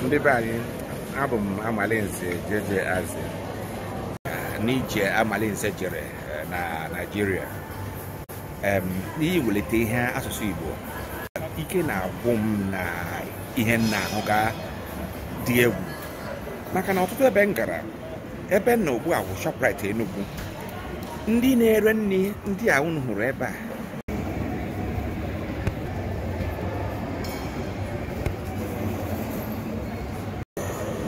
ndị be anyị abụ m amalinze jeje aze n'ije amalinze jere eh, na naijiria em n'ihi iwelite ihe asụsụ igbo ike na-agwụ m na ihe m na-ahụga dị egwu maka na ọtụtụ ebe m gara ebe m nọ ugbu a bụ shoprite enugwu ndị na-ere nri ndị a unu hụrụ ebe a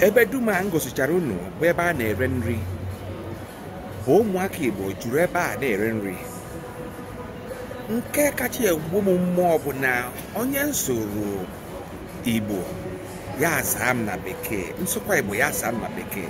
ebe dum a m gosichara unu bụ ebe a na-ere nri bụ ụmụaka Igbo juru ebe a na-ere nri nke kacha egbu m mmụọ bụ na onye m sụọrọ Igbo ya asaa m na bekee m sụkwa Igbo ya asaa m na bekee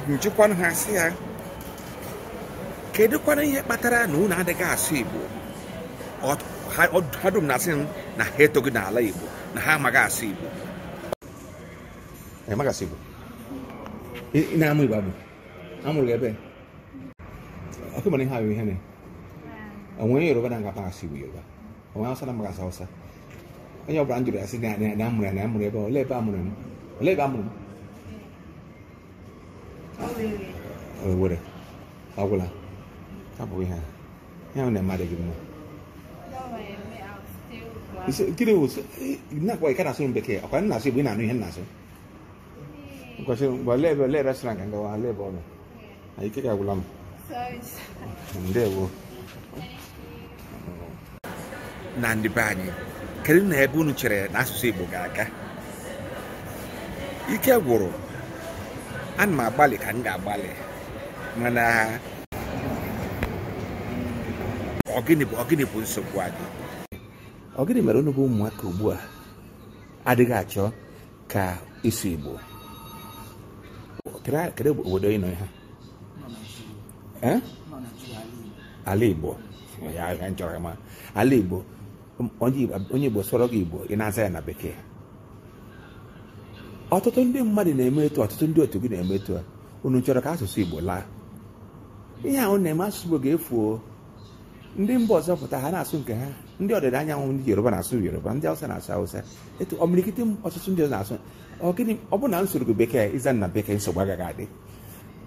m jụkwanụ ha sị ya kedụkwana ihe kpatara na unu adịghị asụ igbo Ọ- ha ọ- ha dum na-asị m na ha etoghị n'ala igbo na ha amaghị asụ igbo ị maghị asụ igbo ị ị na-amụ igbo amụ a mụrụ gị ebee ọkụ mana ihe ahụ ihe na o nwe onye yoruba na-aga pa asụ igbo yoruba o nwe hausa na-amaghị asụ hausa onye ọbụla m jụrụ ya sị na na- na a mụrụ ya na a mụrụ ebe a, olee ebe a mụrụ m olee ebe a mụrụ m Owere agwụla abụghị ha ihe a na-eme adịghị mma gịnị wụ nakwa ị ka na-asụ m bekee ọ kwa m na-asụ igbo ị na-anụ ihe m na-asụ kwesị mgbe lee ebe olee restaurant ka m gawa olee ebe ọ nọ ike agwụla m ndewo na ndị be anyị kedu na ebe unu chere na asụsụ Igbo ga-aga ike gwụrụ ana m agbalị ka m ga-agbalị mana ọ gịnị bụ ọ gịnị bụ nsogbu anyị ọ gịnị mere unu bụ ụmụaka ugbu a adịghị achọ ka ịsụ Igbo kedu obodo ị nọ ihe a Eh? ala igbo ya ya m chọrọ ịma ala igbo m- onye Igbo- onye igbo sụọrọ gị igbo ị na-aza ya na bekee ọtụtụ ndị mmadụ na-eme etu a, ọtụtụ ndị otu gị na-eme etu a unu chọrọ ka asụsụ igbo laa ihe unu na-eme asụsụ igbo ga-efu o. ndị mba ọzọ pụta ha na-asụ nke ha ndị ọdịda anyanwụ ndị yoruba na-asụ yoruba ndị awụsa na-asụ awụsa etu imirikiti ọtụtụ ndị ọzọ na-asụ ọ gịnị ọ bụ na m sụọrọ gị bekee ị zaa na bekee nsogbu agaghị adị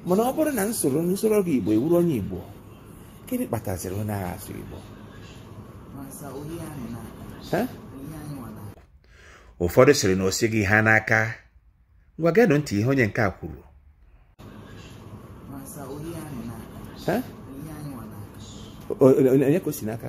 mana ọ bụrụ na m sụọrọ m sụọrọ gị igbo ị wụrụ onye igbo gịnị kpataziri ị naghị asụ igbo ụfọdụ sịrị na o sighị ha n'aka ngwa geenụ ntị ihe onye nke a kwuru onye ka o si n'aka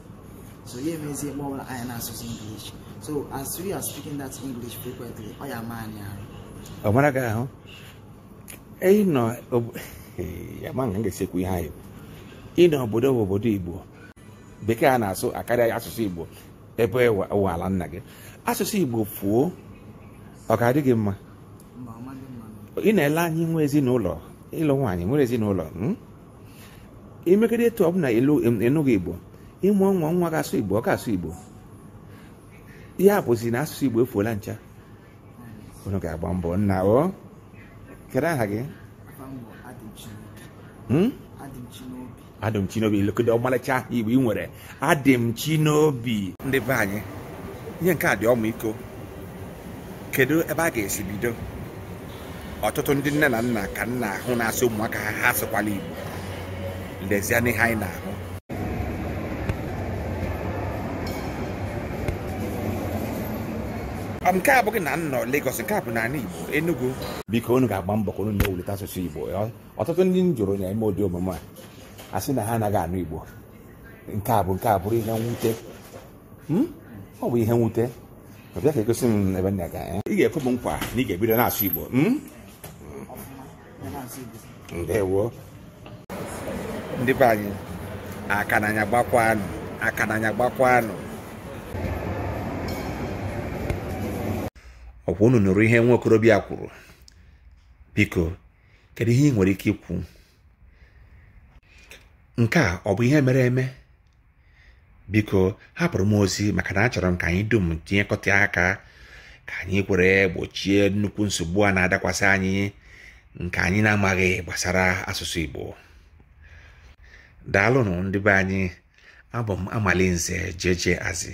so ya emezie mgbe ọbụla anyị na-asụsụ English so as we are speaking that English frequently ọ ya-ama anyị ahụ ọ mara gị ahụ eyi nọ ama nga m ga-esi kwuo ihe a ị nọ obodo bụ obodo Igbo bekee a na-asụ akarịa asụsụ Igbo ebe wụ ala nna gị asụsụ Igbo fuo ọ ga-adị gị mma ị na-ele anya inwe ezinụlọ ịlụ nwaanyị nwere ezinụlọ hmm? i megide etu ọ bụ na ị nụghị igbo ị mụọ nwa nwa ga-asụ igbo ọ ga-asụ igbo ya bụzi na asụsụ igbo efuola ncha unu ga-agba mbọ nna o kedu aha gị Adịmchinobi lekọta ọmalịcha aha igbo ị nwere Adịmchinobi ndị be anyị ihe nke a dị ọmịiko kedu ebe a ga-esi bido ọtụtụ ndị nne na nna ka m na-ahụ na-asị ụmụaka ha ha asụkwala igbo lezienụ ihe anyị na-ahụ Ọ bụ nke a bụghị na m nọ Lagos nke a bụ n'ala Igbo Enugu biko unu ga-agba mbọ ka unu na-ewulite asụsụ Igbo ọtụtụ ndị m jụrụ na-eme ụdị omume a asị na ha anaghị anụ Igbo nke a bụ nke a bụrụ ihe mwute Hmm? ọ bụ ihe mwute ọ bịa ka egosi m ebe nna ga ị ga-ekwe m nkwa na ị ga-ebido na-asụ igbo hmm? ndewo ndị be anyị aka n'anya gbakwanụ aka n'anya gbakwanụ ọ kwa unu nụrụ ihe nwa okorobịa kwuru biko kedu ihe ị nwere ike ikwu nke a ọ bụ ihe mere eme biko hapụrụ m ozi maka na achọrọ m ka anyị dum tinyekọta aka ka anyị kwere gbochie nnukwu nsogbu a na-adakwasị anyị nke anyị na-amaghị gbasara asụsụ Igbo daalụnụ ndị be anyị abụ m Amalinze JJ Azị